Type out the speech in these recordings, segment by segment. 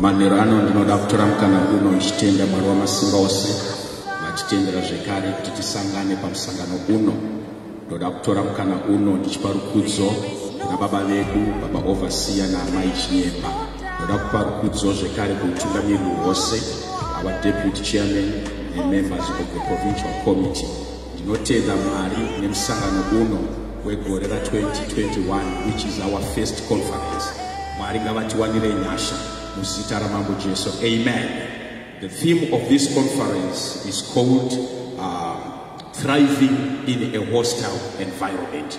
manhero ano ndinoda kutora mukana uno ndichitenda mwari wamasimba ose vatitendera zvekare kuti tisangane pamusangano uno ndoda kutora mukana uno ndichipa rukudzo kuna baba vedu baba ovasiya naamai chinyemba ndoda kupa rukudzo zvekare kuutungamiriri hwose our deputy chairman nemembers of the provincial committee Ndinotenda Mwari nemusangano uno wegore ra 2021 which is our first conference. Mwari ngavatiwanire nyasha muzita ramambo Jesu. Amen. The theme of this conference is called um, thriving in a hostile environment.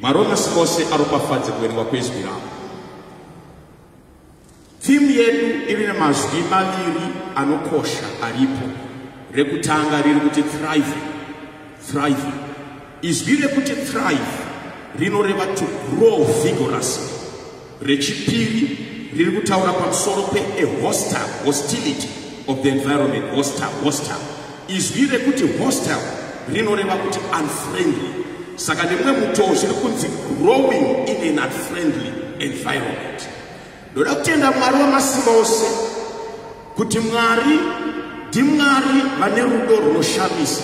Maronas ose aropafadze kuverenga kwezwi ravo. Timu yedu iri nemazwi maviri anokosha aripo. Rekutanga riri kuti thrive, thrive. Izwi rekuti thrive rinoreva to grow vigorously. rechipiri riri kutaura pamusoro pe a hostile hostility of the environment hostile hostile izwi rekuti hostile rinoreva kuti unfriendly saka nemumwe mutoo zviri kunzi growing in an unfriendly environment ndoda kutenda mwari wamasimba ose kuti mwari ndimwari vane rudo runoshamisa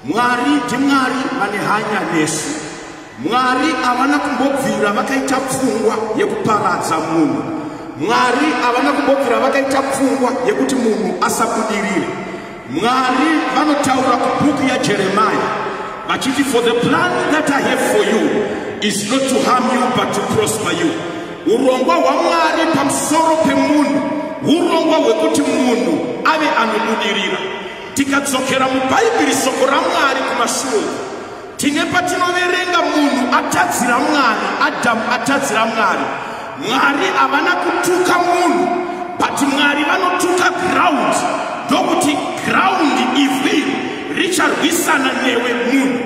Mwari ndiMwari vane hanya nesu. Mwari havana kumbobvira vakaita pfungwa yekuparadza munhu. Mwari havana kumbobvira vakaita pfungwa yekuti munhu asabudirire. Mwari vanotaura kubhuku yaJeremia vachiti for the plan that I have for you is not to harm you but to prosper you. Urongwa hwaMwari pamusoro pemunhu urongwa hwekuti munhu ave anobudirira. Tikadzokera muBhaibheri soko raMwari kumashure tine patinoverenga munhu atadzira Mwari, Adamu atadzira Mwari. Mwari havana kutuka munhu but Mwari vanotuka ground ndokuti ground ivhu iri richarwisana newe munhu.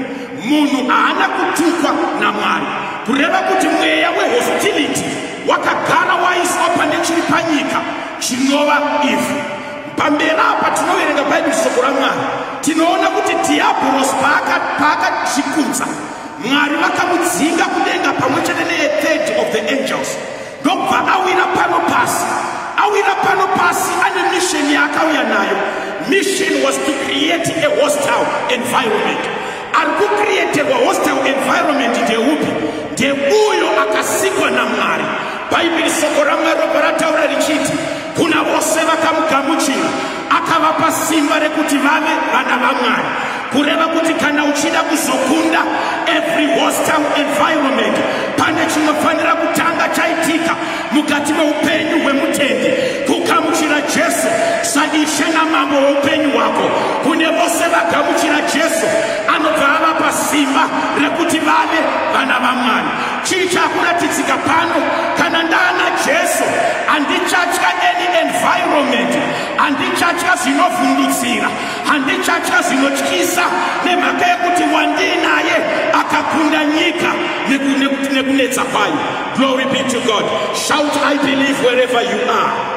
Munhu haana kutukwa naMwari kureva kuti mweya wehostility wakagara waiswa pane chiri panyika chinova ivhu. Pamberi apa tinoverenga Bhaibheri shoko raMwari tinoona kuti Dhiyabhorosi paakazvikudza Mwari vakamudzinga kudenga pamwe chete neethird of the angels ndokubva awira pano pasi awira pano pasi ane misheni yaakauya nayo mission was to create a hostile environment ari kucreaterwa hostile environment ndeupi ndeuyo akasikwa namwari bhaibheri soko ramwari ropa rataura richiti Kuna vose vakamugamuchira akavapa simba rekuti vave vana vamwari kureva kuti kana uchida kuzokunda every hostile environment pane chinofanira kutanga chaitika mukati meupenyu hwemutendi kugamuchira jesu saishe namambo weupenyu hwako kune vose vagamuchira jesu anobva avapa simba rekuti vave vana vamwari Chii chakuratidzika pano? Kana ndaana Jesu, handichatya any environment, handichatya zvinovhundutsira, handichatya zvinotyisa, nemhaka yekuti wandiinaye akakunda nyika nekunetsa kwayo. Glory be to God. Shout, I believe wherever you are.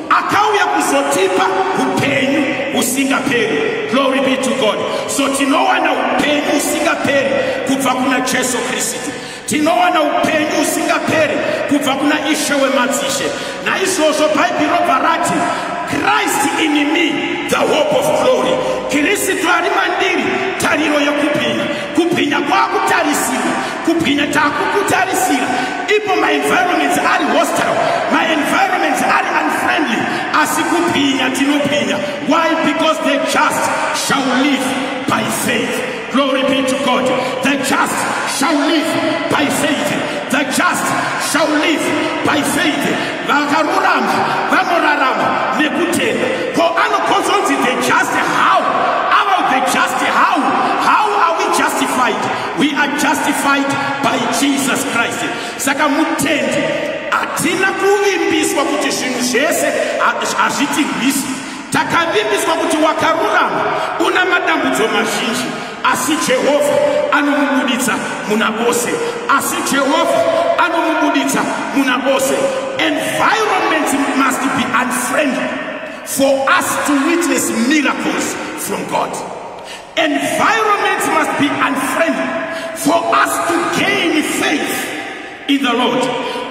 akauya kuzotipa upenyu usingaperi glory be to god so tinowana upenyu usingaperi kubva kuna jesu kristu tinowana upenyu usingaperi kubva kuna ishe wemadzishe naizvozvo bhaibheri robva rati christ in me the hope of glory kristu ari mandiri tariro yekupinda kupinda kwakutarisirwa kubwinya takukutarisira ipo maenvironments ari hostile maenvironments ari unfriendly asi kubwinya tinobwinya why because the just shall live by faith glory be to god the just shall live by faith the just shall live by faith vakarurama vanorarama nekutenda ko anokonzonzi the just how about the just how how are we justified We are justified by Jesus Christ. Saka mutendi hatina kuvimbiswa kuti zvinhu zvese hazvitirwisi. Takavimbiswa kuti wakarurama una madambudzo mazhinji asi Jehovha anomubuditsa muna vose. Asi Jehovha anomubuditsa muna vose. Environment must be unfriendly for us to witness miracles from God. Environment must be unfriendly for us to gain faith in the Lord.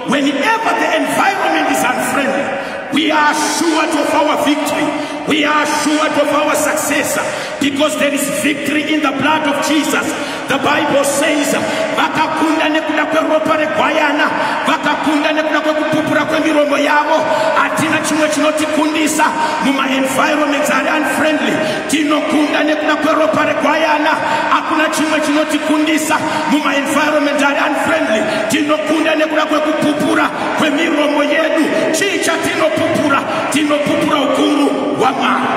Whenever the environment is unfriendly, we are assured of our victory. We are assured of our success because there is victory in the blood of Jesus. The Bible says, vakakunda nekuda kweropa regwayana, vakakunda nekuda kwekupupura kwemiromo yavo. Hatina chimwe chinotikundisa muma environments ari unfriendly. tinokunda nekuda kweropa regwayana hakuna chimwe chinotikundisa mumaenvironment ari unfriendly tinokunda nekuda kwekupupura kwemiromo yedu chii chatinopupura tinopupura ukuru hwamwari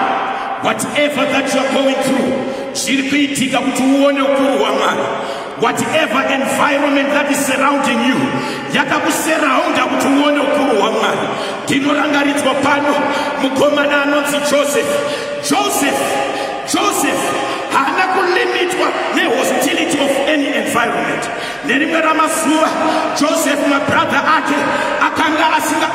whatever that youare going through zviri kuitika kuti uone ukuru hwamwari whatever environment that is surrounding you yakakuseraunda kuti uone ukuru hwamwari ndinorangaridzwa pano mukomana anonzi joseph joseph joseph haana kulimitwa nehostility of any environment nerimwe ramazuva joseph mabradha ake akanga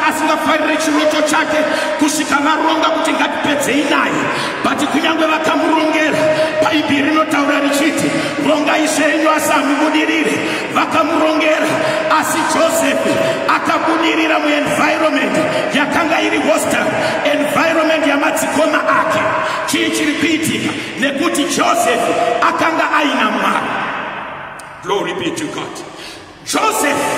asingafarire chiroto chake kusvika varonga kuti ngatipedzei naye But kunyange vakamurongera, Bhaibheri rinotaura richiti, rongai zvenyu asi hamubudirire. Vakamurongera, asi Josefi akabudirira muenvironment yakanga iri hostile, environment yamadzikoma ake. Chii chiri kuitika? Nekuti Josefi akanga aina Mwari. Glory be to God. Josefi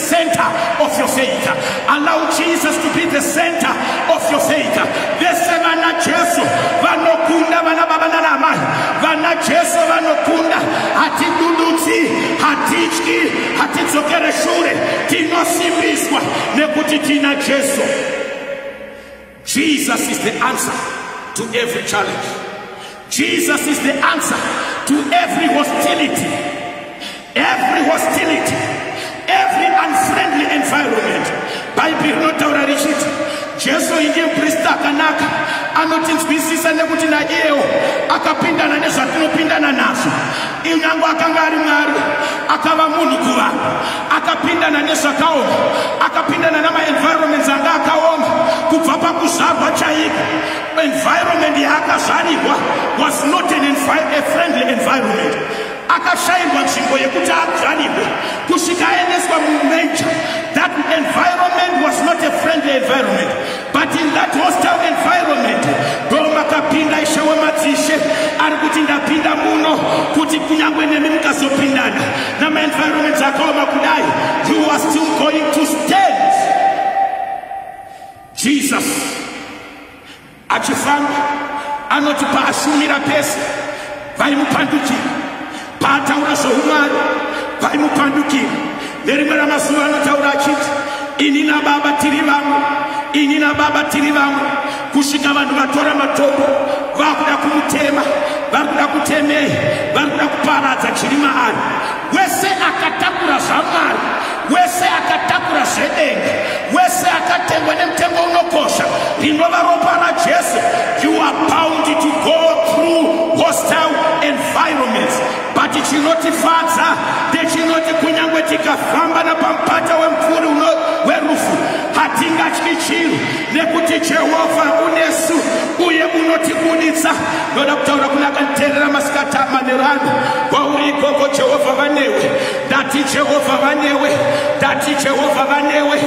center of your faith. Allow Jesus to be the center of your faith. Vese vana Jesu vanokunda vana baba nana amai. Vana Jesu vanokunda. Hatidudutsi, hatityi, hatidzokere shure. Tinosimbiswa nekuti tina Jesu. Jesus is the answer to every challenge. Jesus is the answer to every hostility. Every hostility, every unfriendly environment. Bhaibheri rinotaura richiti Jesu ndiye muprista akanaka anotinzwisisa nekuti naiyewo akapindana nezvatinopindana nazvo. Inyange akanga ari Mwari, akava munhu kuvanhu. akapindana nezvakaoma akapindana namaenvironments anga akaoma kubva pakuzvarwa chaiko environment yaakazvarirwa was not an a friendly environment akashairwa nzvimbo yekuti azvarirwe kusvika aendeswa mumaja that environment was not a friendly environment But in that hostile environment ndomakapinda ishe wemadzishe ari kuti ndapinda muno kuti kunyangwe nemi mukazopindana namaenvironment akaoma kudai you are still going to stand jesus achifamba anoti paashumira pese vaimupandukira Paataura zvoumwari, vaimupandukira. Nerimwe ramazuva anotaura achiti, Ini naBaba tiri vamwe, ini naBaba tiri vamwe, kusvika vanhu vatora matombo vakuda kumutema, vari kuda kutemei, vari kuda kuparadza chiri maari. Wese akatakura zvaMwari wese akatakura zvedenga wese akatengwa nemutengo unokosha rinova ropa rajesu you are bound to go through hostile environments but chinotifadza ndechinoti kunyange tikafamba napamupata wemupfuri werufu hatingatyi chinhu nekuti jehovha unesu uye unotibuditsa ndoda kutaura kune akanditeerera masikati amanherano kwauri ikoko jehovha vanewe Ndati Jehovha vanewe, ndati Jehovha vanewe,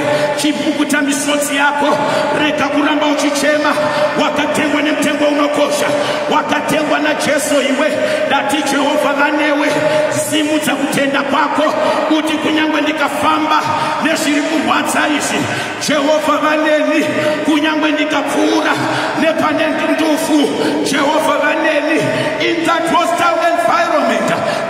chipukuta misodzi yako, rega kuramba uchichema. Wakatengwa nemutengo unokosha, wakatengwa naJesu iwe. Ndati Jehovha vanewe, simudza kutenda kwako, kuti kunyange ndikafamba nezviri kurwadza izvi, Jehovha vaneni, kunyange ndikapfuura nepane ndufu, Jehovha vaneni. In that hostile environment,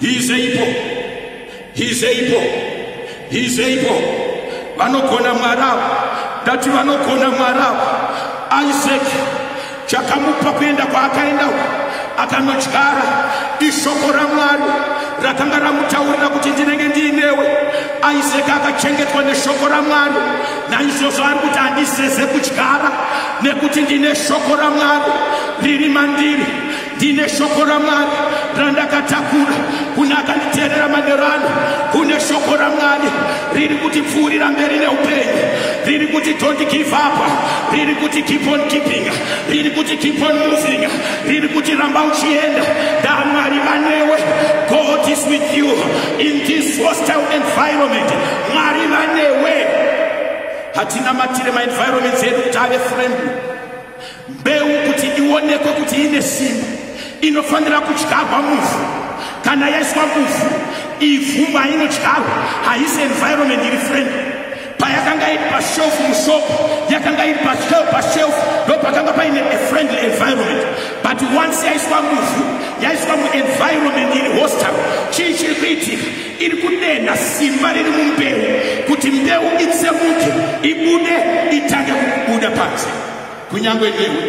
He is able. He is able. He is able. Vanogona mwarava. Ndati vanogona mwarava. Isaac chakamupa kuenda kwaakaenda uko akanodyara ishoko ramwari rakanga ramutaurira kuti ndinenge ndiinewe isaac akachengetwa neshoko ramwari naizvozvo ari kuti handiseze kudyara nekuti ndine shoko ramwari riri mandiri ndine shoko ramwari randakatakura kune akanditeerera manero ano kune shoko ramwari riri kuti pfuurira mberi neupenyu riri kuti don't give up riri kuti keep on keeping riri kuti keep on moving riri kuti ramba uchienda ndamwari vanewe god is with you in this hostile environment mwari vanewe hatina matire maenvironment edu kuti ave friendly Mbeu kuti ionekwe kuti ine simba inofanira kudyarwa muvhu. Kana yaiswa muvhu, ivhu mainodyarwa haisi environment iri friend. Payakanga iri pashelf mushop, yakanga iri pashelf pashelf, ndo pakanga paine a friendly environment. But once yaiswa muvhu, yaiswa muenvironment iri hostile, chii chiri kuitika? Iri kudenha simba riri mumbeu kuti mbeu itsemuke, ibude, itange kubuda panze. Kunyangwe newe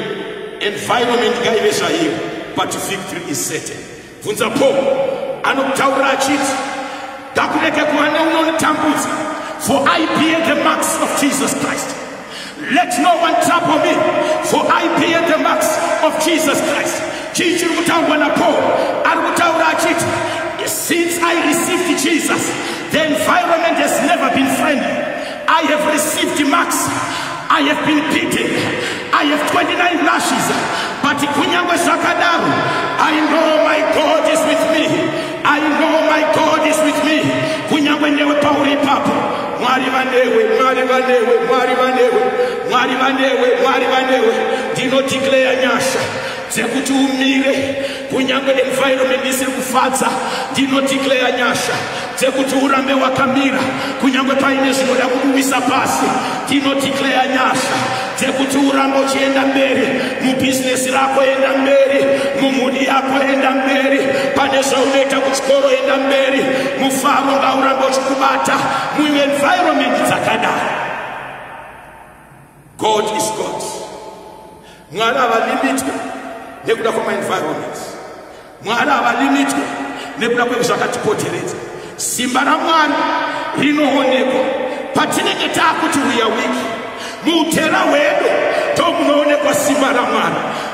environment ngaive zvaiyo but victory is certain. Bvunza Paul anotaura achiti ngakurege kuva neunonitambudza for I bear the marks of Jesus Christ. Let no one trouble me for I bear the marks of Jesus Christ. Chii chiri kutaurwa naPaul? Ari kutaura achiti since I received Jesus the environment has never been friendly. I have received marks. I have been beaten. I have 29 lashes. But kunyangwe zvakadaro, I know my God is with me. I know my God is with me. Kunyangwe newe pauri ipapo. Mwari vanewe, Mwari vanewe, Mwari vanewe, Mwari vanewe, Mwari vanewe. Ndino declare nyasha dzekuti umire Kunyange environment isiri kufadza, ndinodeclare nyasha dzekuti urambe wakamira kunyange paine zvinoda kukuwisa pasi. Ndinodeclare nyasha dzekuti urambe uchienda mberi mubhizinesi rako, enda mberi mumhuri yako, enda mberi pane zvaunoita kuchikoro, enda mberi mufaro ngaurambe uchikubata muenvironment dzakadaro. God is God. Mwari havalimitwe nekuda kwamaenvironment. Mwari havalimitwe nekuda kwezvakatipoteredza. Simba raMwari rinoonekwa patinenge taakuti we are weak. Muutera hwedu ndomunoonekwa simba raMwari.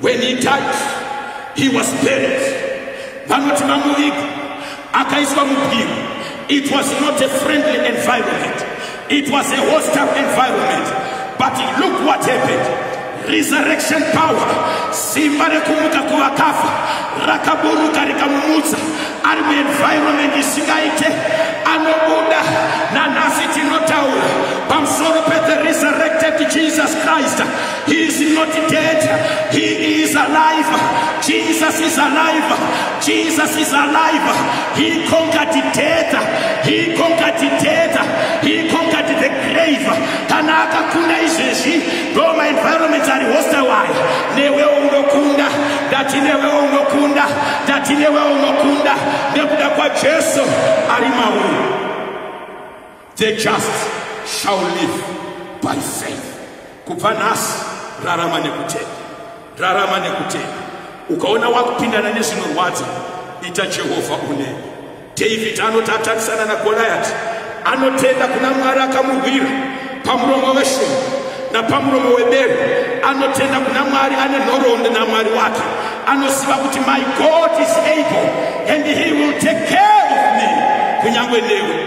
When he died, he was buried. Vanoti mamuviga akaiswa mubwiro. It was not a friendly environment. It was a hostile environment. But look what happened. Resurrection power, simba rekumuka kuvakafa rakaburuka rikamumutsa ari muenvironment isingaite anobuda nanhasi tinotaura pamusoro pethe resurrected jesus christ He is not dead. He is alive. Jesus is alive. Jesus is alive. He conquered death. He conquered death. He conquered the grave. Kana akakunda izvezvi ndo maenvironments ari hostile ayo. Newewo unokunda. Ndati newewo unokunda. Ndati newewo unokunda. Nekuda kwaJesu ari mauri. The just shall live by faith. Kubva nhasi rarama nekutenda, rarama nekutenda. Ukaona wakupindana nezvinorwadza, ita Jehovha une. David anoti atarisana naGoliati, anotenda kuna Mwari akamurwira pamuromo weshumba napamuromo webere, anotenda kuna Mwari ane nhoroondo naMwari wake, anoziva kuti my God is able and he will take care of me, kunyangwe newe